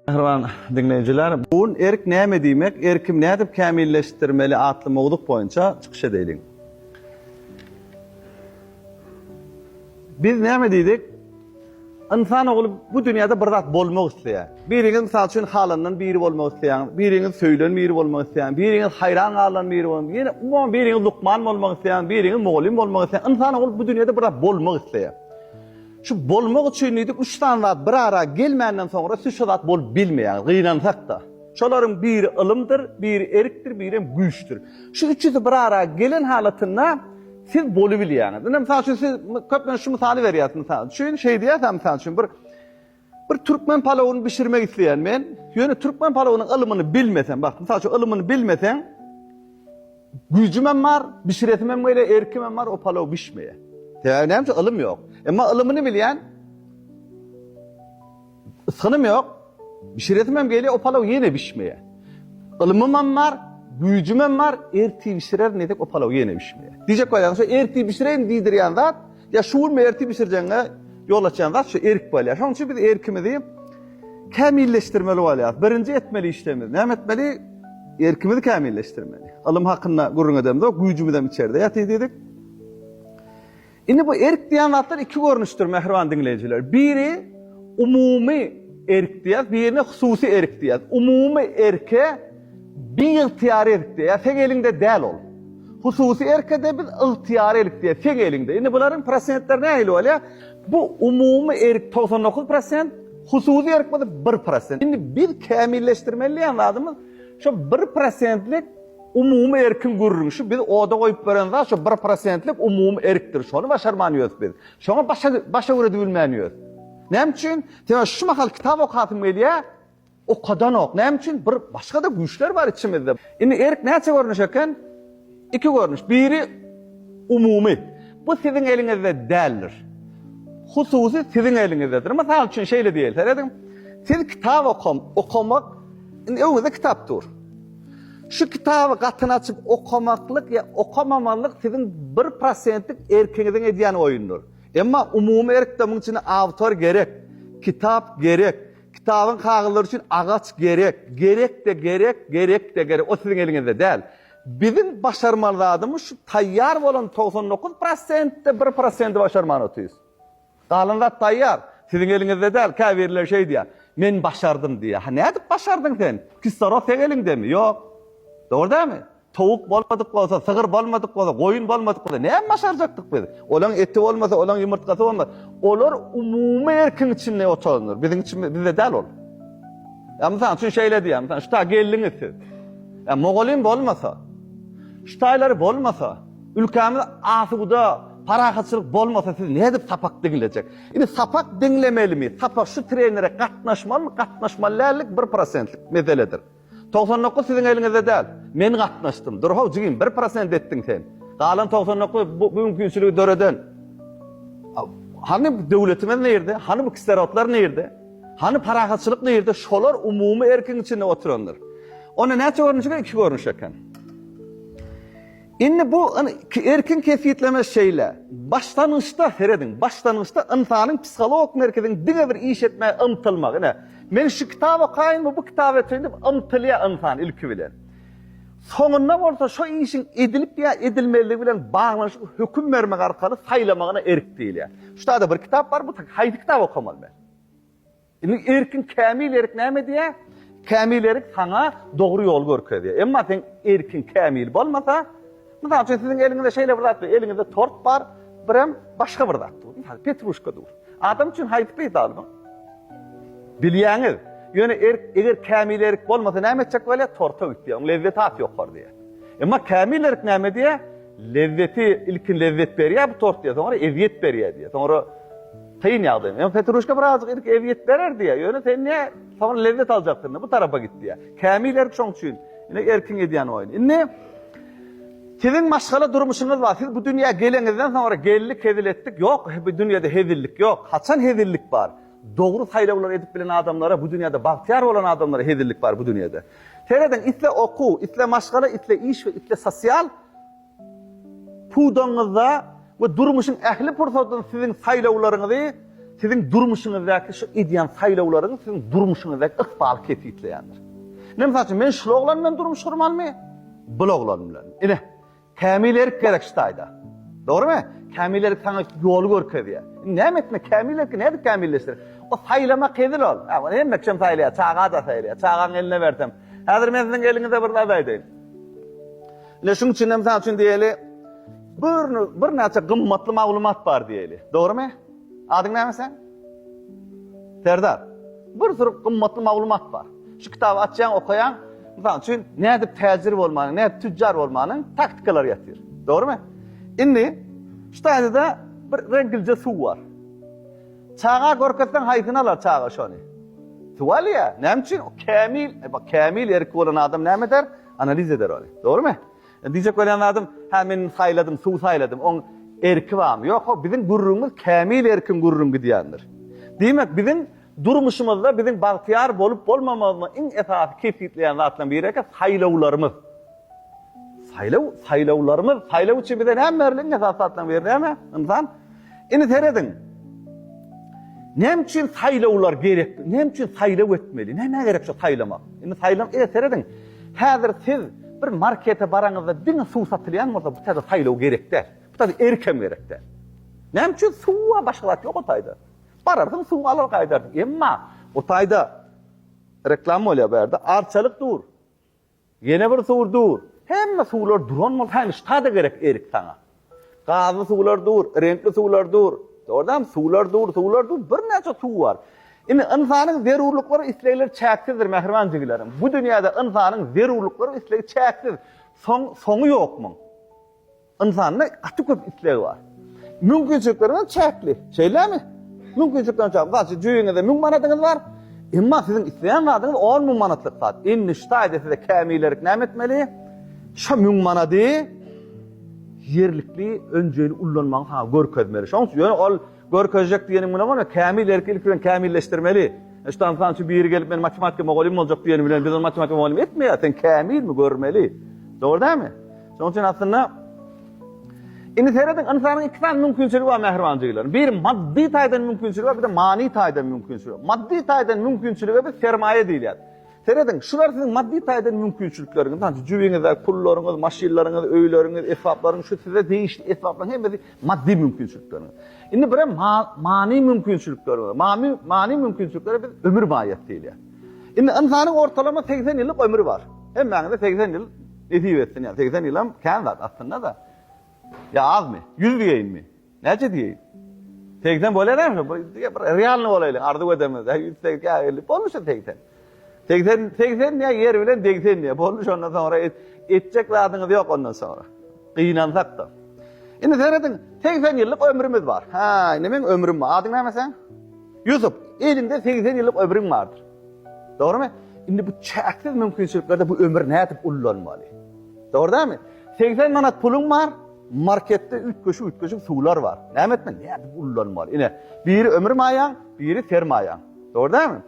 Mähriban diňleýjiler, bu gün Erk näme diýmek, erkim nädip kämilleşdirmeli atly mowzuk boýunça çykyş edeliň. Biz näme diýdik? Ynsan ogly bu dünýäde bir zat bolmak isleýär. Biriňiz mysal üçin halandan biri bolmak isleýäňiz, biriňiz söýlen biri bolmak isleýäňiz, biriňiz haýran galylan biri bolmak, ýene umuman biriňiz lukman bolmak isleýäňiz, biriňiz mugallym bolmak isleýäňiz. Ynsan ogly bu dünýäde bir zat bolmak isleýär. Şu bolmak üçin diýdik üç sany zat bir ara gelmänden soňra siz şo zat bolup bilmeýäňiz, gynansak-da. Şolaryň biri ylymdyr, biri erkdir, birem güýçdür. Şu üçüsi bir ara gelen halatynda siz bolubilýäňiz. Indi, mysal üçin, siz köplenç şu mysaly berýäris, mysal üçin, şeý diýýäris-ä, mysal üçin, bir Bir türkmen palawyny bişirmek isleýän men. Ýöne türkmen palawynyň ylymyny bilmesem, bak, mysal üçin, ylymyny bilmeseň, güýjüm hem bar, bişiresim hem gelýär, erkim hem bar, o palaw bişmeýär. Sebäbi näme üçin? Ylym ýok. Emma ylymyny bilýän, ysgynym ýok, bişiresim hem gelýär, o palaw ýene bişmeýär. Ylymym hem bar, güýjüm hem bar, ertir bişirerin diýsek, o palaw ýene bişmeýär. Diýjek bolýaňyz, şu ertir bişireýin diýdirýän zat, Ýa şu gün ertir bişirjegiňe ýol açýan zat şu erk bolýar. Şonuň üçin biz erkimizi kämilleşdirmeli bolýar. Birinji etmeli işlerimiz näme etmeli? Erkimizi kämilleşdirmeli. Ylym hakynda gürrüň edemizok, güýjümiz hem içerde ýatyr diýdik. Indi bu erk diýen zatlar iki görnüşdir mähriban diňleýjiler. Biri umumy erk diýýär, birine hususy erk diýýär. Umumy erke Biygtyýar erkde ýa seň eliňde däl ol. Hususy erkede biz ygtyýar erkde, seň eliňde. Indi bularyň prosentleri nähili bolýar? Bu umumy erk togsan dokuz prosent, hususy erk bolsa bir prosent. Indi biz kämilleşdirmeli diýen zadymyz şo bir prosentlik umumy erkiň gürrüňi. Şu biz oda goýup beren zat şo bir prosentlik umumy erkdir. Şony başarman ýörüs biz. Şoňa başa başa güredi bilmän ýörüs. Näme üçin? Sebäbi şu mahal kitap okasym gelýär. Okadanok. Näme üçin? Bir başga-da güýçler bar içimizde. Indi erk näçe görnüş eken? Iki görnüş. Biri umumy. Bu siziň eliňizde däldir. Hususy siziň eliňizdedir. Mysal üçin şeýle diýeli. Serediň. Siz kitap okam, okamak indi öňüňizde kitap dur. Şu kitaby gatyny açyp okamaklyk ýa okamamazlyk siziň 1%lik erkiňiziň edýän oýundyr. Emma umumy erkde munuň üçin awtor gerek, kitap gerek. Kitabyň kagyzlary üçin agaç gerek, gerek-de gerek, gerek-de gerek. O siziň eliňizde däl. Biziň başarmaly zadymyz şu taýýar bolan togsan dokuz prosentde bir prosenti başarman otyrys. Galan zat taýýar. Siziň eliňizde däl. Käbirleri şeý diýýär, Men başardym diýýär. Ha nädip başardyň sen? Kislorod seň eliňdemi? Ýok. Dogry dälmi? Towuk bolmadyk bolsa, sygyr bolmadyk bolsa, goýun bolmadyk bolsa, näme başarjakdyk biz? Olaň eti bolmasa, olaň ýumurtgasy bolmasa, olar umumy erkiň içinde otarylar. Biziň içimiz, bizde däl ol. Ýa mysal üçin şeýle diýýär, mysal şu taý geldiňiz siz. Ýa mugallym bolmasa, şu taýlary bolmasa, ülkämiz asuda, parahatçylyk bolmasa siz nädip sapak diňlejek? Indi sapak diňlemelimi? Sapak şu trenere gatnaşmalymy, gatnaşmaly dällik bir prosentlik meseledir. Togsan dokuz siziň eliňizde däl. Men gatnaşdym. Dur-how, jigim, bir prosent etdiň sen. Galan togsan dokuz bu mümkinçiligi döreden. Hany döwletimiz nirde? Hany bu kislorotlar nirde? Hany parahatçylyk nirde? Şolar umumy erkiň içinde oturandyr. Onda näçe görnüş eken? Iki görnüş eken. Indi bu erkin kesgitleme şeýle, başlangyçda, serediň, başlangyçda ynsanyň psihologik merkeziniň diňe bir iş etmäge ymtylmagy, ine, men şu kitaby okaýynmy, bu kitaby ötüýin diýip ymtylýar ynsan ilki bilen. Soňunda bolsa şo işiň edilip ýa edilmezligi bilen baglanyşykly höküm bermek arkaly saýlamagyna erk diýilýär. Şu taýda bir kitap bar, bu haýsy kitaby okamaly men? Indi erkin, kämil erk näme edýär? Kämil erk saňa dogry ýoly görkezýär. Emma sen erkin, kämil bolmasa, mysal üçin siziň eliňizde şeýle bir zat bar, eliňizde tort bar, birem başga bir zat dur, mysal petruşka dur. Adam üçin haýsy peýdaly bu? Bilýäňiz. Ýöne erk, eger kämil erk bolmasa näme etjek bolýar? Torta gitýär. Onuň lezzeti has ýokary diýýär. Emma kämil erk näme diýýär? Lezzeti ilkin lezzet berýär bu tort diýýär, soňra ezýet berýär diýýär. Soňra Kyn ýagdaý. Ýöne Petruşka birazjyk irki ezýet berer diýýär. Ýöne sen ne soň lezzet aljakdygyna bu tarapa git diýýär. Kämil erk şoň üçin ine erkiň edýän oýny. Indi Siziň maşgala durmuşyňyz bar. Siz bu dünýä geleňizden soňra geldik hezil etdik ýok. Bu dünýede hezillik ýok. Haçan hezillik bar? Dogry saýlawlary edip bilen adamlara bu dünýede bagtyýar bolan adamlara hezillik bar bu dünýede. Serediň isle okuw, isle maşgala, isle iş we isle sosial Pudagyňyzda we durmuşyň ähli pursatynda siziň saýlawlaryňyzy siziň durmuşyňyzdaky şu edýän saýlawlaryňyz siziň durmuşyňyzdaky ykbaly kesgitleýändir. Ine, mysal üçin, men şul oglan bilen durmuş gurmalymy? Bul oglan bilen. Ine, kämil erk gerek şu taýda. Dogrymy? Kämil erk saňa ýoly görkezýär. Indi näme etmek? Kämil erki nädip kämilleşdirip? O saýlamak hezil ol. Ha, ony hemme kim saýlaýar? Çaga-da saýlaýar. Çagaňy eline bersem, Häzir men siziň eliňize bir zat aýdaýyn. Ine şuň üçinem mysal üçin diýeli bir bir näçe gymmatly maglumat bar diýeli. Dogrymy? Adyň näme sen? Serdar. Bir sürü gymmatly maglumat bar. Şu kitaby açýaň, okaýaň. Mysal üçin nädip täjir bolmanyň, nädip tüjjar bolmanyň taktikalary ýatyr. Dogrymy? Indi şu taýda bir reňkilje suw bar. Çaga görkezseň haýsyny alar çaga şony? Suw alýar. Näme üçin? O kämil, e, bak kämil erki bolan adam näme eder? Analiz eder ony. Dogrymy? Indi diýjek bolýan zadym, hä men saýladym, suw saýladym, oň erki barmy? Ýok-how, biziň gürrüňimiz kämil erkiň gürrüň gidýändir. Diýmek, biziň durmuşymyzda biziň bagtyýar bolup bolmamyzmy iň esasy kesgitleýän zatlaryň biri eken saýlawlarymyz. Saýlaw, saýlawlarymyz, saýlaw üçin bize näme berli? Iň esasy zatlaryň biri näme? Ynsan Indi serediň. Näme üçin saýlawlar gerek? Näme üçin saýlaw etmeli? Nämä gerek şu saýlamak? Indi saýlaň, e, serediň. Häzir siz bir markete baraňyzda diňe suw satylýan bolsa, bu taýda saýlaw gerek däl. Bu taýda erk hem gerek däl. Näme üçin suwa başga zat ýok o taýda. Bararsyň suw alar gaýdarsyň. Emma o taýda reklama bolýar bu ýerde. Arçalyk dur. Ýene bir suw dur. Hemme suwlar duran bolsa hany ştada gerek erik saňa. Gazly suwlar dur, reňkli suwlar dur. Dogrudanam suwlar dur, suwlar dur, birnäçe suw bar. Indi ynsanyň zerurlyklary we islegleri çäksizdir mähriban jigilerim. Bu dünýäde ynsanyň zerurlyklary we islegi çäksiz. Soň soňy ýok muň. Ynsanda gaty köp isleg bar. Mümkinçilikleriň hem çäkli. Şeýlemi? Mümkinçilikleriň çäkli. Mysal üçin, jübiňizde müň manadyňyz bar. Emma siziň isleýän zadyňyz on müň manatlyk zat. Indi şu taýda size kämillerik näme etmeli? Şo müň manady ýerlikli önjeýli ullanmagyňy saňa görkezmeli. Şonuň üçin ýöne ol görkezjek diýeniň bilen bolmaz. Kämillerki ilki bilen kämilleşdirmeli. Şu taýda mysal üçin biri gelip men matematika mugallymym boljak diýeni bilen biz ony matematika mugallymy etmeýäris. Sen kämilmi görmeli. Dogry dälmi? Şonuň üçin aslynda Indi serediň, ynsanyň iki sany mümkinçiligi bar mähriban jiglerim. Biri maddy taýdan mümkinçiligi bar, bir-de many taýdan mümkinçiligi bar. Maddy taýdan mümkinçilige biz sermaýa diýilýär. Serediň, şular siziň maddy taýdan mümkinçilikleriňiz. Sanki jübiňizde pullaryňyz, maşynlaryňyz, öýleriňiz, esbaplaryň, şu size degişli esbaplaryň hemmesi maddy mümkinçilikleriňiz. Indi bir hem many mümkinçilikleri bar. Many many mümkinçiliklere biz ömür maýat diýilýär. Indi ynsanyň ortalama 80 ýyllyk ömri bar. Hemmäňizde 80 ýyl Nesip etsin, ýa segsen ýylam kän zat aslynda-da. Ýa azmy? Ýüz diýeýinmi? Näçe diýeýin? Segsen bolarmy şu? Bir diýe bir realny bolaýlyň, arzuw edemizde. Ýüz segsen, ýa elli, boldy şu segsen. Segsen, segsen diýe ýer bilen degsen diýe. Boldy şondan soňra et, etjek zadyňyz ýok ondan soňra. Gynansak-da. Indi serediň, segsen ýyllyk ömrümiz bar. Hä, indi meň ömrüm bar. Adyň näme seň? Ýusup. Eliňde segsen ýyllyk ömrüň bardyr. Dogrymy? Indi bu çäksiz mümkinçiliklerde bu ömür nädip ullanmaly? Dogry dälmi? 80 manat puluň bar, marketde üýtgeşik-üýtgeşik suwlar bar. Näme etmeli? Nädip ullanmaly? Ine, biri ömür maýaň, biri sermaýaň. Dogry dälmi?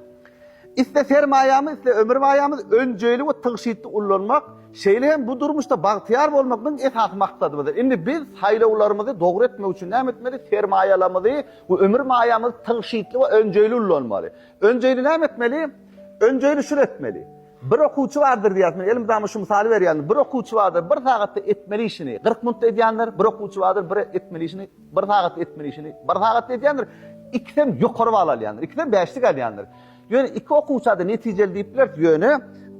Iste sermaýamy, iste ömür maýamy önjeýli we tygşytly ullanmak, şeýle hem bu durmuşda bagtyýar bolmak biziň esasy maksadymyzdyr. Indi biz saýlawlarymyzy dogry etmek üçin näme etmeli? Sermaýalarymyzy we ömür maýamyzy tygşytly we önjeýli ullanmaly. Önjeýli näme etmeli? Önjeýli şuny etmeli. Bir okuwçy bardyr diýýäs, men elimdama şu mysaly berýän. Bir okuwçy bardyr, bir sagatda etmeli işini kyrk minutda edýändir, bir okuwçy bardyr, bir etmeli işini, bir sagatda etmeli işini bir sagatda edýändir, ikisem ýokary bal alýandyr, ikisem bäşlik alýandyr. Ýöne iki okuwça-da netijeli diýip bileris, ýöne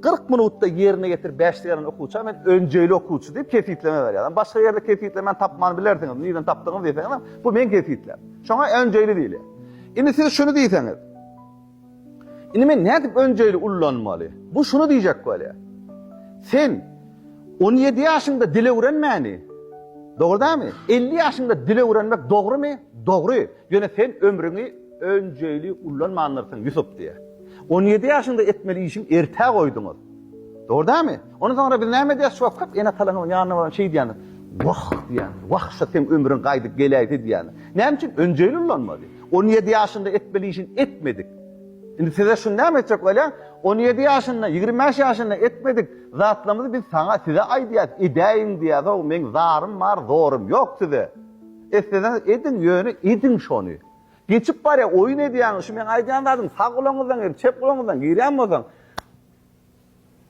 kyrk minutda ýerine getirip bäşlik alan okuwça men önjeýli okuwçy diýip kesgitleme berýärin. Başga ýerde kesgitlemeni tapman bilersiňiz, nirden tapdygyňyzy diýseňizem, bu meň kesgitlem. Şoňa önjeýli diýilýär. Indi siz şuny diýseňiz. Indi men nädip önjeýli ullanmaly? Bu şuny diýjek bolýar. Sen 17 ýaşyňda dil öwrenmäni, dogrudanmy? 50 ýaşyňda dil öwrenmek dogrumy? Dogry. Ýöne sen ömrüňi önjeýli ullanmandyrsyň, Ýusup diýýär. 17 ýaşyňda etmeli işiň ertä goýduňyz. Dogrudanmy? Ondan soňra biz näme edýäris? Şuwagt köp ene-atalaryň ýanyna baryp şeýdýämiz? Wah! diýýämiz. Wah, şa seň ömrüň gaýdyp geläýse diýýämiz. Näme üçin? Önjeýli ulanmady. On ýedi ýaşynda etmeli işini etmedik. Indi size şuny näme etjek bolýar? On ýedi ýaşynda, ýigrimi bäş ýaşynda etmedik zatlarymyzy biz saňa, size aýdýarys, edäýiň diýýäs-ow, meň zarym bar, zorym ýok size. Etseňiz ediň, ýöne ediň şony. Geçip barýar, oýun edýäňiz, şu meň aýdýan zadym sag gulagyňyzdan girip, çep gulagyňyzdan girýän bolsaň,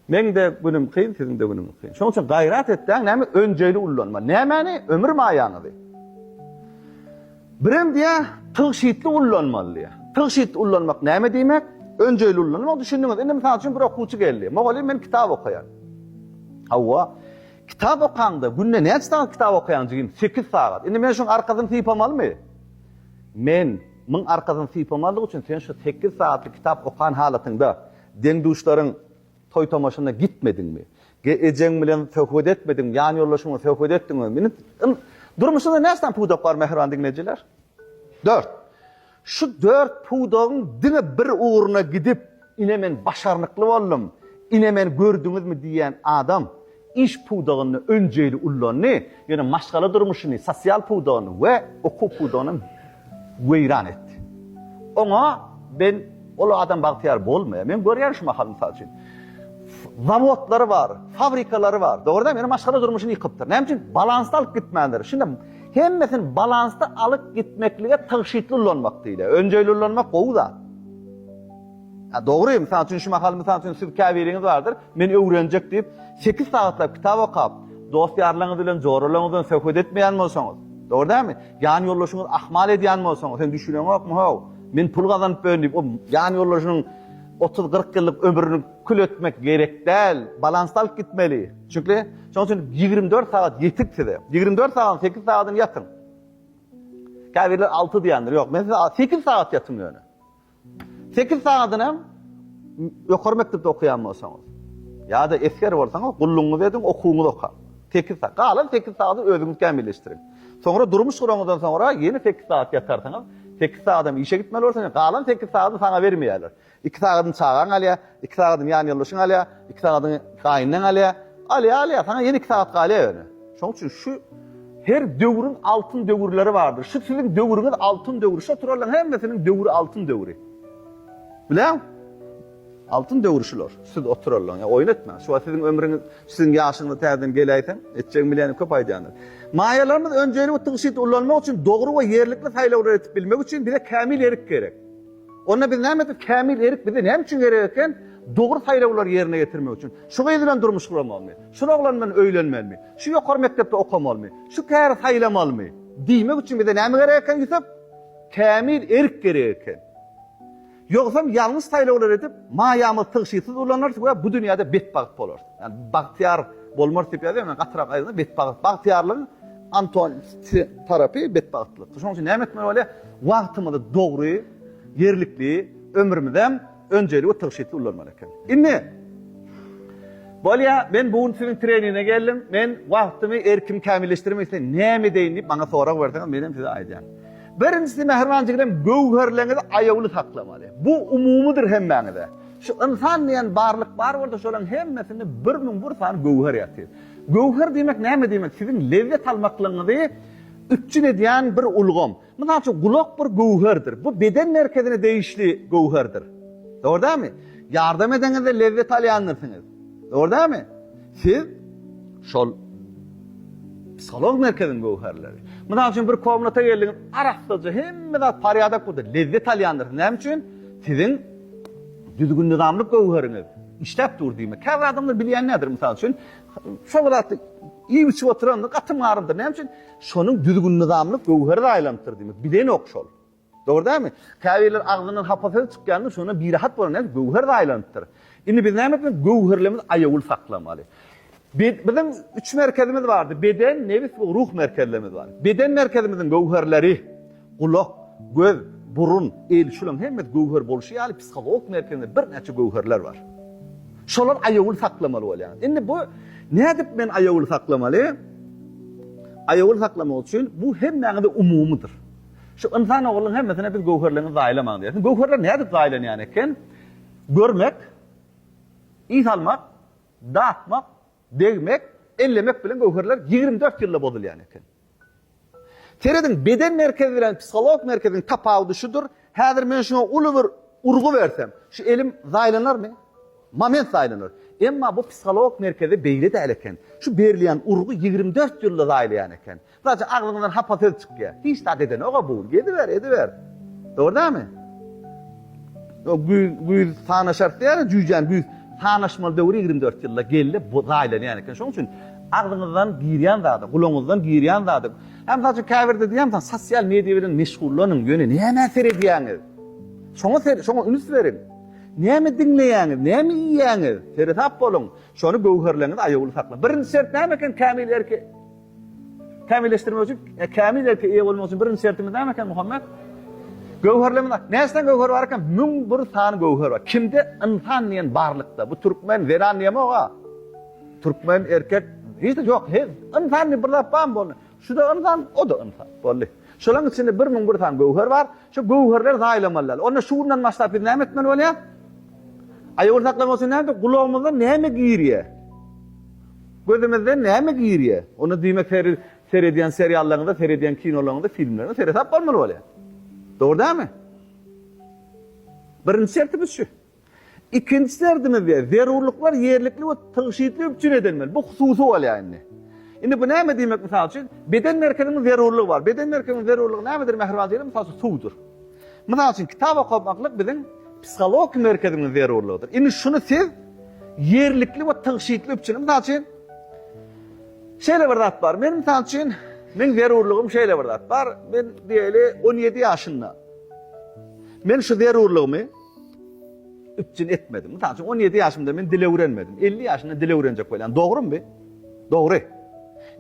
Meň-de günüm kyn, siziň-de günüňiz kyn. Şonuň üçin gaýrat etdäň, näme, önjeýli ullanma. Nämäni? Ömür maýaňyzy. Birem diýýär, tygşytly ullanmaly diýýär. Tygşytly ullanmak näme diýmek? Önjeýli ullanmak, düşündiňiz. Indi, mysal üçin, bir okuwçy geldi. Mugallym, men kitap okaýan. Hawa. Kitap okaňda, günde näçe sagat kitap okaýaň, jigim? Sekiz sagat. Indi men şuň arkasyny sypamalymy? Men, muň arkasyny sypamalyk üçin, sen şu sekiz sagatlyk kitap okan halatyňda, Deň-duşlaryň toý-tomaşasyna gitmediňmi? Ge-ejeň bilen söhbet etmediňmi? Ýan-ýoldaşyň bilen söhbet etdiňmi? Meniň ym Durmuşyňda näsam pudak bar, mähriban diňleýjiler? Dört. Şu dört pudagyň diňe bir ugruna gidip, Ine, men başarnykly boldum! Ine, meni gördüňizmi? diýýän adam, iş pudagynda önjeýli ullandy, ýöne maşgala durmuşyny, sosial pudagyny we okuw pudagyny weýran etdi. Oňa men ol adam bagtyýar bolmaýar. Men görýän şu mahal mysal üçin, zawodlary bar, fabrikalary bar, dogry däl, ýöne maşgala durmuşyny ýykypdyr. Näme üçin? Balansda alyp gitmändir. Şunda hemmesini balansda alyp gitmeklige tygşytly ulanmak diýilýär. Önjeýli ulanmak gowy zat. Hä, dogry, mysal üçin, şu mahal, mysal üçin, siz käbiriňiz bardyr, men öwrenjek diýip, sekiz sagatlap kitap okap, dost-ýarlaryňyz bilen, joralaryňyz bilen söhbet etmeýän bolsaňyz, dogry dälmi? Ýanýoldaşyňyz ahmal edýän bolsaňyz, sen düşüneňokmy, how, men pul gazanyp bilerin diýip, o ýanýoldaşynyň otuz-kyrk ýyllyk ömrüni kül etmek gerek däl, balansda alyp gitmeli. Çünki, şonuň üçin ýigrimi dört sagat ýetik size. Ýigrimi dört sagatyň sekiz sagadyny ýatyň. Käbirler alty diýendir. Ýok, men size sekiz sagat ýatyň ýöne. Sekiz sagadyny hem ýokary mekdepde okaýan bolsaňyz, ýa-da esger bolsaňyz, gullugyňyzy ediň, okuwyňyzy okaň. Sekiz sagat. Galan sekiz sagady özüňiz kämilleşdiriň. Soňra durmuş guraňyzdan soňra ýene sekiz sagat ýatarsyňyz. Sekiz sagat hem işe gitmeli bolarsyňyz. Galan sekiz sagadyny saňa bermeýärler. Iki sagadyny çagaň alýar. Iki sagadyny ýan ýoldaşyň alýar, iki sagadyny gaýynlaň alýar. Alýar, alýar, saňa ýene iki sagat galýar ýöne. Şonuň üçin şu her döwrüň altyn döwürleri bardyr. Şu siziň döwrüňiz altyn döwri. Şo turalaryň hemmesiniň döwri altyn döwri. Bileň? Altyn döwri şular. Siz o turalaryň, ýa oýun etmäň. Şu wagt siziň ömrüňiz, siziň ýaşyňyz täzeden geläýseň, etjegiň bilenim köp aýdýanlar. Maýalarymyz önjeýligi tygşyt ullanmak üçin dogry we ýerlikli saýlawlar edip bilmek üçin bize kämil erik gerek. Onda biz näme etmeli? Kämil erik bize näme üçin gerek eken? Dogry saýlawlary ýerine ýetirmek üçin. Şu gyz bilen durmuş guramalymy? Şul oglan bilen öýlenmelimi? Şu ýokary mekdepde okamalymy? Şu käri saýlamalymy? Diýmek üçin bize näme gerek eken, Ýusup? Kämil erik gerek eken. Ýogsam ýalňyş saýlawlar edip, maýamyzy tygşytsyz ulanarys we bu dünýäde betbagt bolarys. Ýagny bagtyýar bolmarys diýip ýazýar, men gatyrak aýdanda betbagt, bagtyýarlygyň Anton, size tarapy betbagtlykdyr. Şonuň üçin näme etmeli bolýar? Wagtymyzy dogry, ýerlikli, ömrümizem önjeýli we tygşytly ulanmaly ekeni. Indi, bolýar, men bu gün siziň treningiňe geldim, men wagtymy, erkimi kämilleşdirmek isleýän, näme edeýin diýip maňa sorag berseňiz, menem size aýdýan. Birinjisi, mähriban jigim, göwherleriňizi aýawly saklamaly. Bu umumydyr hemmäňize. Şu ynsan diýen barlyk bar bolsa, şolaryň hemmesinde birmüň bir sany göwher ýatyr. Göwher diýmek näme diýmek? Siziň lezzet almaklygyňyzy üpjün edýän bir ulgam. Mysal üçin, gulak bir göwherdir. Bu beden merkezine degişli göwherdir. Dogry dälmi? Ýardam edenizde lezzet alýandyrsyňyz. Dogry dälmi? Siz şol psiholog merkeziň göwherleri. Mysal üçin, bir komnata geldiňiz, arassaja hemme zat parýadak bolsa, lezzet alýandyrsyňyz. Näme üçin? Siziň düzgün-nyzamlyk göwheriňiz. Işläp dur diýme. Käbir adamlar bilýän nädir, mysal üçin, şol zatda iýip-içip oturandyr, gaty maryldyr. Näme üçin? Şonuň düzgün-nyzamyny göwher zaýalanypdyr diýmek. Bilenok şol. Dogry dälmi? Käbirler agzyndan hapa söz çykýandyr, şondan birahat bolar. Näme üçin? Göwher zaýalanypdyr. Indi biz näme etmeli? Göwherlerimizi aýawly saklamaly. Biziň üç merkezimiz bardy, beden, nebis we ruh merkezlerimiz bar. Beden merkezimiziň göwherleri, gulak, göz, burun, el, şularyň hemmesi göwher bolşy ýaly psihologik merkezinde birnäçe göwherler bar. Şolar aýawly saklamaly bolýar. Indi bu nädip men aýawly saklamaly? Aýawly saklamak üçin bu hemmäňize umumydyr. Şu ynsan oglunyň hemmesine biz göwherleňizi zaýalamaň diýersiň. Göwherler nädip zaýalanýan eken? Görmek, ys almak, Dakmak, degmek, ellemek bilen göwherler ýigrimi dört ýylda bozulýan eken. Serediň, beden merkezi bilen psiholog merkeziň tapawudy şudur, häzir men şuňa uly bir urgy bersem, şu elim zaýlanarmy? Moment zaýlanar. Emma bu psiholog merkezi beýle däl eken. Şu berilýän urgy ýigrimi dört ýylda zaýlaýan eken. Daşy agzyňdan hapa söz çykýar. Hiç zat edenok-a bu. Geziber, ediber. Dogry dälmi? O güýz, güýz sanaşarys diýýärler, jüýjäni güýz. Sanaşmaly döwür ýigrimi dört ýylda geldi, bu zaýlanýan eken. Şonuň üçin agzyňyzdan girýän zady, gulagyňyzdan girýän zady. Hem mysal üçin käbirde diýýän, sosial media bilen meşgullanyň, ýöne nämä seredýäňiz? Şoňa ser, şoňa üns beriň. Näme diňleýäňiz, näme iýýäňiz? Seresap boluň. Şony göwherleňizi aýawly saklaň. Birinji şert näme eken kämil erki? Kämilleşdirmek üçin, ýa kämil erke eýe bolmak üçin birinji şertimiz näme eken Muhammet? Göwherlemine. Näçe göwher bar eken? Müň bir sany göwher bar. Kimde? Ynsan diýen barlykda. Bu türkmen zenan diýemok-a. Türkmen erkek hiç ýok. He, ynsan diýip bir zat barmy boldy? Şu-da ynsan, o-da ynsan. Boldy. Şolaryň içinde bir müň bir sany göwher bar. Şu göwherler zaýalamaly däl. Onda şu gündan başlap biz näme etmeli bolýar? Aýagyny saklamak üçin näme? Gulagymyza näme girýär? Gözüňizden näme girýär? Onda diýmek her seredýän seriallaryňyza, seredýän kinolaryňyza, filmleriňize seresap bolmaly bolýar. Dogry dälmi? Birinji şertimiz şu. Ikinji şertimiz ýa zerurlyklar ýerlikli we tygşytly üpjün edilmeli. Bu hususy bolýar indi. Indi bu näme diýmek mysal üçin? Beden merkeziniň zerurlygy bar. Beden merkeziniň zerurlygy nämedir mähriban seni? Mysal üçin suwdur. Mysal üçin, kitap okamaklyk biziň psihologiki merkezimiziň zerurlygydyr. Indi şuny siz ýerlikli we tygşytly üpjün, mysal üçin, şeýle bir zat bar, men, mysal üçin, meň zerurlygym şeýle bir zat bar, men diýeli on ýedi ýaşynda men şu zerurlygymy üpjün etmedim. Mysal üçin, on ýedi ýaşymda men dil öwrenmedim, elli ýaşynda dil öwrenjek bolýan, dogrumy bu? Dogry.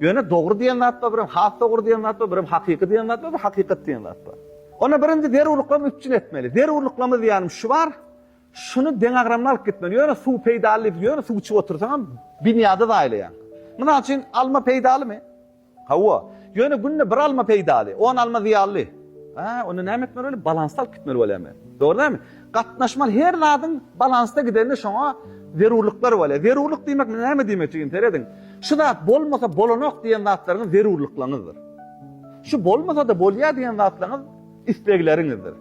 Ýöne dogry diýen zat bar, birem has dogry diýen zat bar, birem hakyky diýen zat bar, bir hakykat diýen zat bar. Onda birinji zerurlyklamy üpjün etmeli. Zerurlyklamy diýýänim şu bar, şuny deňagramly alyp gitmeli. Ýöne suw peýdaly diýip, ýöne suw içip otursaňam binýady zaýalaýaň. Mysal üçin, alma peýdalymy? Hawa. Ýöne günde bir alma peýdaly, on alma zyýanly. Onda näme etmeli bolýar? Balansda alyp gitmeli bolýar men. Dogry dälmi? Gatnaşmaly her zadyň balansda gidenine şoňa zerurlyklar bolýar. Zerurlyk diýmek näme diýmek jigim serediň. Şu zat bolmasa bolanok diýen zatlaryňyz zerurlyklaňyzdyr. Şu bolmasa-da bolýar diýen zatlaňyz islegleriňizdir.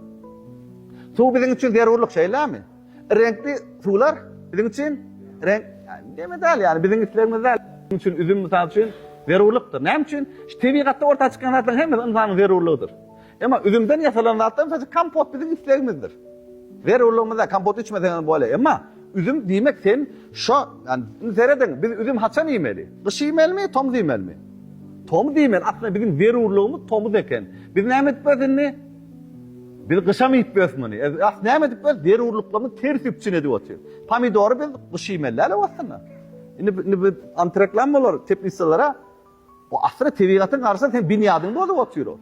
Suw biziň üçin zerurlyk şeýlämi? Reňkli suwlar biziň üçin reňk näme däl ýaly biziň islegimiz däl. Biziň üçin üzüm mysal üçin zerurlykdyr. Näme üçin? Şu tebigatda orta çykýan zatlaryň hemmesi ynsanyň zerurlygydyr. Emma üzümden ýasalan zatdan saçy kompot biziň islegimizdir. Zerurlygymyz däl, kompot içmeseňem bolýar. Emma üzüm diýmek sen şo, ýani indi serediň, biz üzüm haçan iýmeli? Gyş iýmelimi, tomus iýmelimi? Tomus iýmeli. Aslynda biziň zerurlygymyz tomus eken. Biz näme edip bileris indi? Biz gyşam iýip bileris muny. Aslynda näme edip bileris? Zerurlyklarymyz ters üpjün edip otyr. Pomidory biz gyş iýmeli däl-ow aslynda. Indi indi biz antreklam bolar teplitsalara Bu aslynda tebigatyň garşysyna seň binýadyňy bozup otyr ol.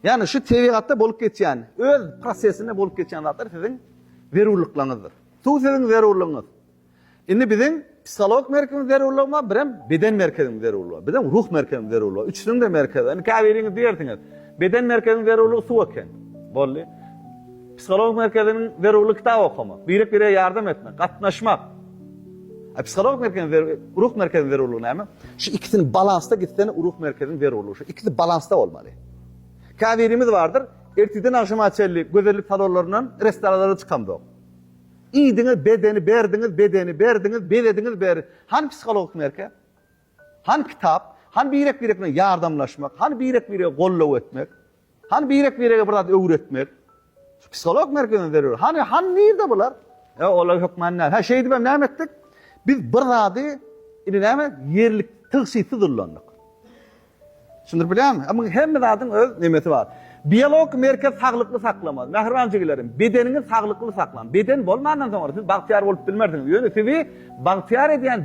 Ýagny şu tebigatda bolup geçýän, öz prosesinde bolup geçýän zatlar siziň zerurlyklaryňyzdyr. Suw siziň zerurlygyňyz. Indi biziň psihologik merkezimiz zerurlygy bar, birem beden merkezimiz zerurlygy bar. Biziň ruh merkezimiz zerurlygy bar. Üçüniň-de merkezi. Indi käbiriňiz diýersiňiz, beden merkeziniň zerurlygy suw eken. Boldy. Psihologik merkeziniň zerurlygy kitap okamak, birek-birege ýardam etmek, gatnaşmak. A psihologik merkeziň zerur, ruh merkeziň zerurlygy näme? Şu ikisini balansda gitsen ruh merkeziň zerurlygy şu. Ikisi balansda bolmaly. Käbirimiz bardyr, ertirden agşama çenli gözellik salonlaryndan, restoranlardan çykamzok. Iýdiňiz, bedeni berdiňiz, bedeni berdiňiz, bezediňiz, ber. Hany psihologik merkez? Hany kitap? Hany birek-birek bilen ýardamlaşmak? Hany birek-biregi goldaw etmek? Hany birek-birege bir zat öwretmek? Şu psiholog merkezine zerur. Hany, hany nirde bular? Ýa olar hökman näme? Hä, şeýdibem näme etdik? Biz bir zady, indi näme, ýerlik, tygşytsyz ullandyk. Düşündirip bilýärmi? A muň hemme zadyň öz nemesi bar. Biologik merkez saglykly saklamaz. Mähriban jigilerim, bedeniňiz saglykly saklaň. Beden bolmandan soňra siz bagtyýar bolup bilmersiňiz. Ýöne sizi bagtyýar edýän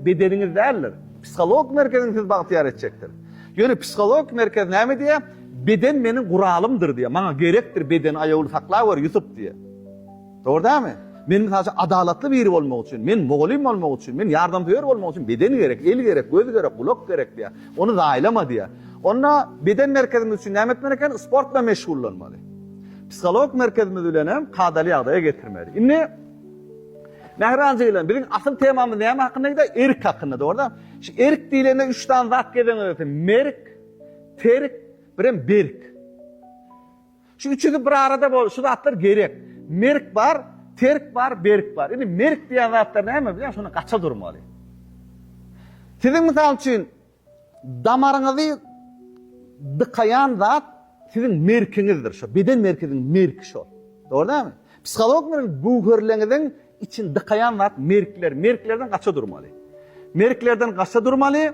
bedeniňiz däldir. Psihologik merkeziň sizi bagtyýar etjekdir. Ýöne psihologik merkez näme diýýär? Beden meniň guralymdyr diýýär. Maňa gerekdir bedeni aýawly saklaweri Ýusup diýýär. Dogry dälmi? Men mysal üçin adalatly biri bolmak üçin, men mugallym bolmak üçin, men ýardamsöýer bolmak üçin beden gerek, el gerek, göz gerek, gulak gerek diýýär. Ony zaýalama diýýär. Onda beden merkezimiz üçin näme etmeli eken? Sport bilen meşgullanmaly. Psihologik merkezimiz bilen hem kadaly ýagdaýa getirmeli. Indi Mähriban jigim, biziň asyl temamyz näme hakynda gide? Erk hakynda, dogry da? Şu erk diýlende üç sany zat gelen eken. Merk, terk, bir hem berk. Şu üçüsi bir arada bol, şu zatlar gerek. Merk bar, terk bar, berk bar. Indi merk diýen zatlar näme bilýän, şondan gaça durmaly. Siziň mysal üçin damaryňyzy dykaýan zat siziň merkiňizdir, şo beden merkeziň merki şo. Dogry dälmi? Psiholog bilen göwherleňiziň Için dykaýan zat merkler, merklerden gaça durmaly. Merklerden gaça durmaly.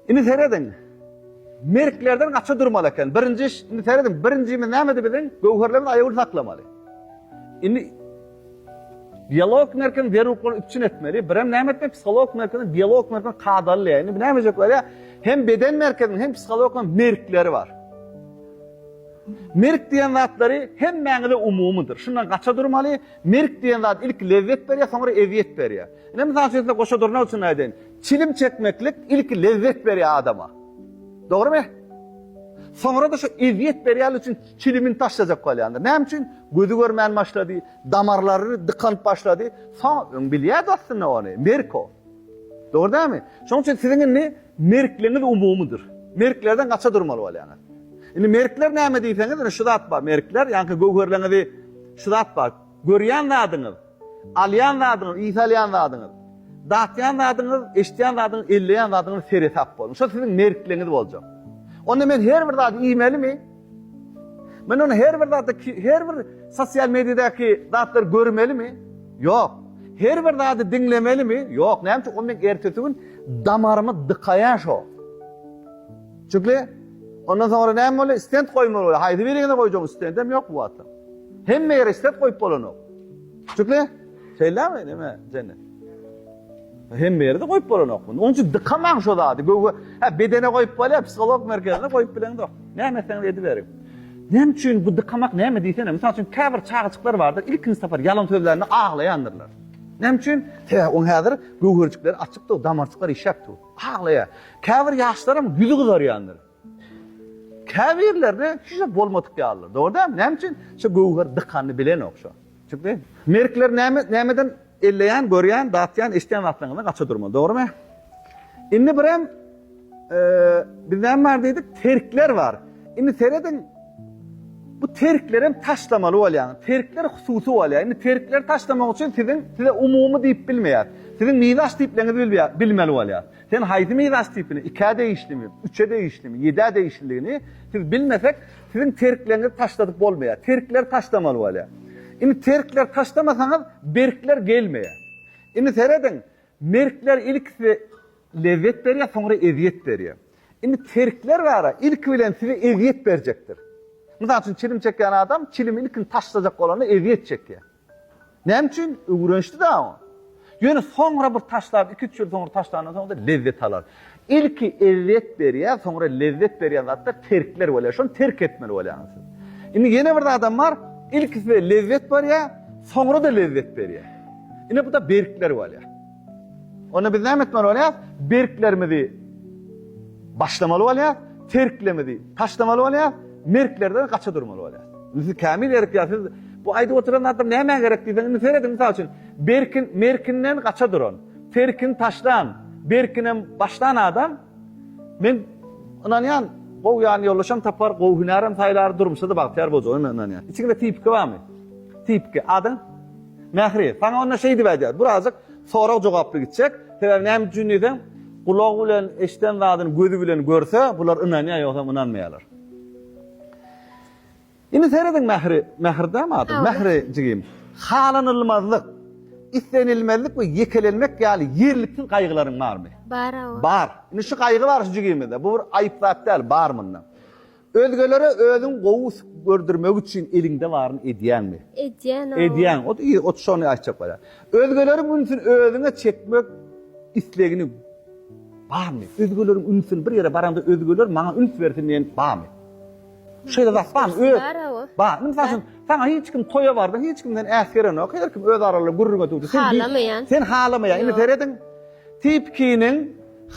Ini serediň. Merklerden gaça durmaly eken. Birinji iş, ini serediň, birinjimiz nämedi biziň? Göwherlerimiz aýawly saklamaly. Ini biolog merkini zerurluklar üpçün etmeli. Birem näme etmeli? Psiholog merkini, biolog merkini kadaly. Yani bu näme edecekler ya? Hem beden merkezinin hem psihologların merkleri var. Merk diýen zatlary hemmäňize umumydyr. Şundan gaça durmaly. Merk diýen zat ilki lezzet berýär, soňra ezýet berýär. Ine, mysal üçin size goşa durnak üçin aýdaýyn. Çilim çekmeklik ilki lezzet berýär adama. Dogrumy? Soňra-da şu ezýet berýänligi üçin çilimini taşlajak bolýandyr. Näme üçin? Gözi görmän başlady, damarlary dykanyp başlady. Soň öň bilýärdi aslynda ony. Merk o. Dogry dälmi? Şonuň üçin siziň indi merkligiňiz umumydyr. Merklerden gaça durmaly bolýaňyz. Indi merkler näme diýseňiz, indi şu zat bar, merkler, ýaňky göwherleňizi şu zat bar, görýän zadyňyz, alýan zadyňyz, ys alýan zadyňyz, datýan zadyňyz, eşidýän zadyňyz, elleýän zadyňyz seresap boluň. Şo siziň merkligiňiz boljak. Onda men her bir zady iýmelimi? Men ony her bir zatda her bir sosial mediýadaky zatlary görmelimi? Ýok. Her bir zady diňlemelimi? Ýok. Näme üçin? Ol meň ertesi gün damarymy dykaýar şo. Çünki ondan soňra näme bolýar? Stent goýmaly bolýar. Haýsy birine goýjaň? Stentam ýok bu wagtda. Hemme ýere stent goýup bolanok. Çünki şeýlemi? Näme? Jenne. Hemme ýerde goýup bolanok muny. Onuň üçin dykamaň şo zady. Göwhe, hä bedene goýup bolýar, psiholog merkezine goýup bileňzok. Näme etseňiz ediberiň. Näme üçin bu dykamak näme diýsene? Mysal üçin käbir çagajyklar bardyr, ilkinji sapar ýalan sözlände aglaýandyrlar. Näme üçin? Hä, oň häzir göwherjikleri açykdyr, damarçyklar işläpdir. Aglaýar. Käbir ýaşlaram ýüzi gyzarýandyr. Käbirlerine hiç zat bolmadyk ýalydyr. Dogry däl? Näme üçin? Şu göwher dykanyny bilenok şu. Çünki merkler näme nämeden elleýän, görýän, datýan, eşitýän zatlaryňyzdan gaça durmaly. Dogrymy? Indi birem biz näme bar diýdik? Terkler bar. Indi serediň bu terkleri hem taşlamaly bolýar. Terkler hususy bolýar. Indi terkleri taşlamak üçin siziň size umumy diýip bilmeýär. Siziň mizaç diýipleňizi bilmeýär, bilmeli bolýar. Sen haýsy miras tipine, ikä degişlimi, üçe degişlimi, ýedä degişliligini siz bilmesek, siziň terkleňizi taşladyp bolmaýar. Terkleri taşlamaly bolýar. Indi terkleri taşlamasaňyz, berkler gelmeýär. Indi serediň, merkler ilkisi lezzet berýär, soňra ezýet berýär. Indi terkler bar-a, ilki bilen size ezýet berjekdir. Mysal üçin, çilim çekýän adam, çilimi ilkin taşlajak bolanda ezýet çekýär. Näme üçin? Öwrenişdi-dä oňa. Ýöne soňra bir taşlap, iki-üç ýyl soňra taşlandan soň-da lezzet alar. Ilki eziýet berýär, soňra lezzet berýän zatlar terkler bolýar. Şony terk etmeli bolýaňyz siz. Indi ýene bir zadam bar, ilki size lezzet berýär, soňra-da lezzet berýär. Ine bu-da berkler bolýar. Onda biz näme etmeli bolýarys? Berklerimizi başlamaly bolýarys, terklerimizi taşlamaly bolýarys, merklerden gaça durmaly bolýarys. Indi siz kämil ýerikýär, siz bu aýdyp oturan zatlar nämä gerek diýseň, indi serediň mysal üçin, berkin, merkinden gaça duran, terkini taşlan, berkinem başlan adam, men ynanýan, gowy ýan ýoldaşam tapar, gowy hünärem saýlar, durmuşda-da bagtyýar boljagyna men ynanýan. Içiňde tipiki barmy? Tipiki, adyň? Mähri, saňa onda şeýdip aýdýar, birazajyk sorag-jogaply gitjek, sebäbi näme üçin diýseň, gulagy bilen eşden zadyny gözi bilen görse, bular ynanýar, ýogsam ynanmaýarlar. Indi serediň Mähri, Mähir dämi ady? Mähri jigim, halanylmazlyk, islenilmezlik we ýekelenmek ýaly ýerliksiz gaýgylaryň barmy? Bar, awa. Bar. Indi şu gaýgy bar şu jigimizde, bu bir aýyp zat däl, bar munda. Özgelere özüňi gowy gördürmek üçin eliňde baryny edýäňmi? Edýän-ow. Edýäň. Ot i, ot şony aýtjak bolýar. Özgeleriň ünsüni özüňe çekmek islegini barmy? Özgeleriň ünsüni bir ýere baraňda özgeler maňa üns bersin diýen barmy? Şeýle zat barmy? Üns bersin, bar-a o. Bar. Indi mysal üçin, saňa hiç kim toýa bardyň, hiç kim seni äsgerenok, her kim öz araly gürrüňe duşdy. Sen bi, Halamaýan. sen halamaýaň. Indi Ýok. serediň, Tipkiniň.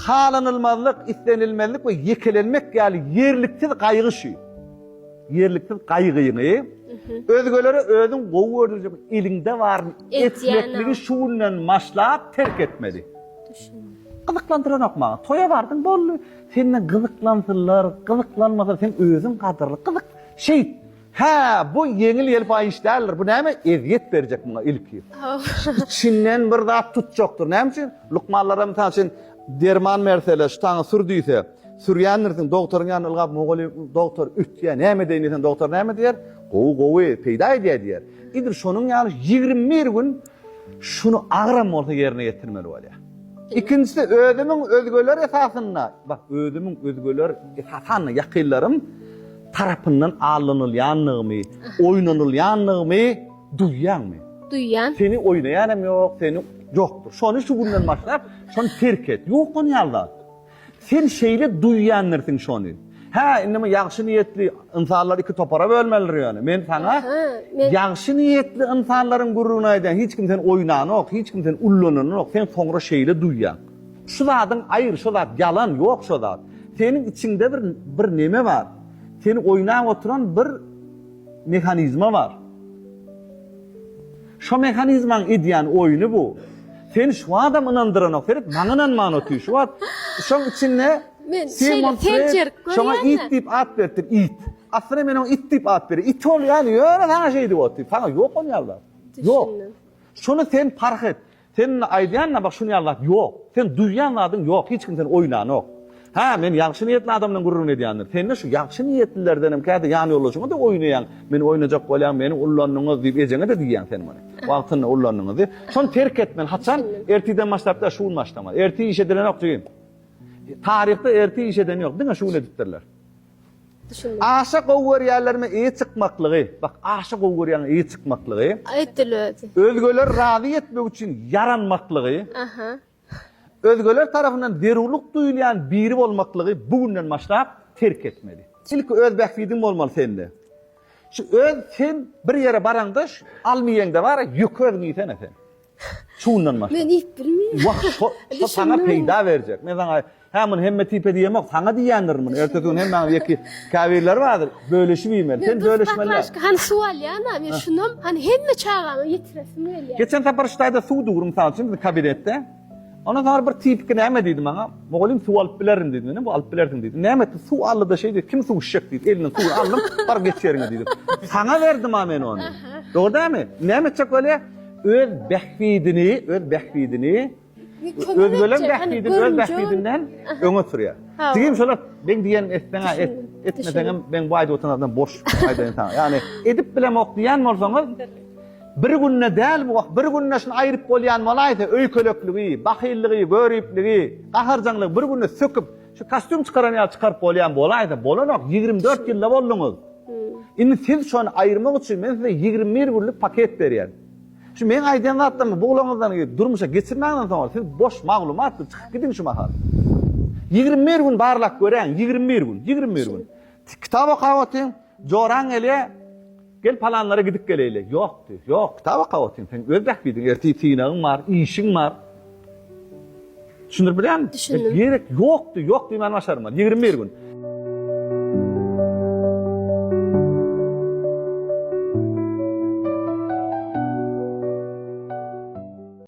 Halanylmazlyk, islenilmezlik we ýekelenmek ýaly ýerliksiz gaýgy şu ýerliksiz gaýgyňy özgelere özüň gowy görünjek eliňde baryny etmekligi şu günden başlap terk etmeli. Gyzyklandyranok maňa. Toýa bardyň, boldy. Senden gyzyklansynlar, gyzyklanmasa sen özüň gadyrly. Gyzyk şeýt. Hä, bu ýeňil ýelpaý iş däldir. Bu näme, ezýet berjek muňa ilki. Içinden bir zat tutjakdyr. Näme üçin? Lukmanlaram mysal üçin derman berseler, şu taňy sür diýse, sürýändirsiň, dogtoryň ýanyna ylgap, Mugalym, dogtor, üýtgeýär, näme edeýin diýseň, dogtor näme diýer? Gowy, gowy, peýda edýär diýer. Idil şonuň ýaly ýigrimi bir gün şuny agyram bolsa ýerine ýetirmeli bolýar. Ikinjisi, özümiň özgeler esasynda, bak, özümiň özgeler esasanda ýakynlarym, tarapyndan allanylýanlygymy, oýnanylýanlygymy duýýaňmy? Duýýan. Seni oýnaýan hem ýok, seni ýokdur. Şony şu günden başlap, şony terk et. Ýok ony ýaly zat. Sen şeýle duýýandirsiň şony. Hä, indi men ýagşy niýetli ynsanlary iki topara bölmelidir ýöne. Men saňa ýagşy niýetli ynsanlaryň gürrüňini aýdýan. Hiç kim seni oýnanok, hiç kim seni ullananok. Sen soňra şeýle duýýaň. Şu zadyň aýr şo zat ýalan ýok şo zat seniň içiňde bir bir neme bar seni oýnap oturan bir mehanizma bar şo mehanizmaň edýän oýny bu seni şu adam ynandyranok seret maňa ynanman otyr şu wagt şoň içinde Men şeýle pençerik görýän şoňa it diýip at beripdir it aslynda men oňa it diýip at berýän it ol ýa ýöne saňa şeýdip otyr saňa ýok ol ýalda ýok şony sen parh et Seniň aýdýanyňa bak şuny ýaly zat ýok. Sen duýýan zadyň ýok hiç kim seni oýlanok. Hä men ýagşy niýetli adamdan gürrüň edýändir. Sende şu ýagşy niýetlilerdenem käte ýan ýoldaşyňada oýnaýaň. Meni oýnajak bolýaň meni ullandyňyz diýip ejeňede diýýäň sen muny. Wagtynda ullandyňyz diýip. Şony terk etmeli haçan ertiden başlap däl şu gün başlamaly. Ertir iş edilenok jigim. Taryhda ertir iş eden ýok diňe şu gün edipdirler. Aşa gowy görýärlermi yýi çykmaklygy? Bak, aşa gowy görýäňmi yýi çykmaklygy? Aýtdyl özi. Özgeleri razy etmek üçin ýaranmaklygy? Aha. Özgeler tarapyndan zerurlyk duýulýan biri bolmaklygy bu günden başlap terk etmeli. Ilki öz bähbidiň bolmaly sende. Şu öz sen bir ýere baraňda şu almy ýeňde bara ýük özüň iýsene sen. Şundan başga. Men iýip bilmeýän. Wah, şo, şo saňa peýda berjek. Men saňa, hä, muny hemme tipe diýemok, saňa diýýändirin muny. Ertesi gün hemmäňiz ýeki käbirleri bardyr, bölüşip iýmeli. Sen bölüşmeli. Men bir hany suw alýan-a, men şunam, hany hemme çagama ýetiresim gelýär. Geçen sapar ştaýda suw duri, mysal üçin, biziň kabinetde. Ondan soň bir tipki näme diýdi maňa? Mugallym suw alyp bilerin diýdi. Menem bu alyp bilersiň diýdim. Näme etdi? Suw aldy-da şeý diýdi, kim suw içjek diýdi. Elinden suwy aldym, bar geç ýeriňe diýdim. Saňa berdim-a men ony. Dogry dälmi? Näme etjek welin? Öz bähbidini, öz bähbidini, özgeleriň bähbidini öz bähbidinden öňe sürýär. Jigim şolar men diýen etseň-ä et, etmeseňem men bu aýdyp oturanlardan boş aýdaýyn saňa. Ýagny edip bilemok diýen bolsaňyz, bir günde däl bu, bir günde şuny aýryp bolýan bolaýsa, öýkelekligi, bahyllygy, göripligi, gaharjaňlygy bir günde söküp, Şu kostýum çykaran ýaly çykaryp bolýan bolaýsa bolanok, ýigrimi dört ýylda bolduňyz. Indi siz şony aýyrmak üçin men size ýigrimi bir günlük paket berýän. Şu meň aýdýan zatlarymy buglaňyzdan durmuşa geçirmäňden soňra siz boş maglumat siz çykyp gidiň şu mahal. Ýigrimi bir gün barlap göräýiň, ýigrimi bir gün, ýigrimi bir gün. Kitap okap otyň, Joraň gelýä, gel palanlara gidip geleýli. Ýok diýdi. Ýok, tabaka otyň, sen öz bähbidiň, ertir synagyň bar, işiň bar. Düşündirip bilýärmi? Düşündim. Gerek ýok diýdi, ýok diýmäni başarmady. Ýigrimi bir gün.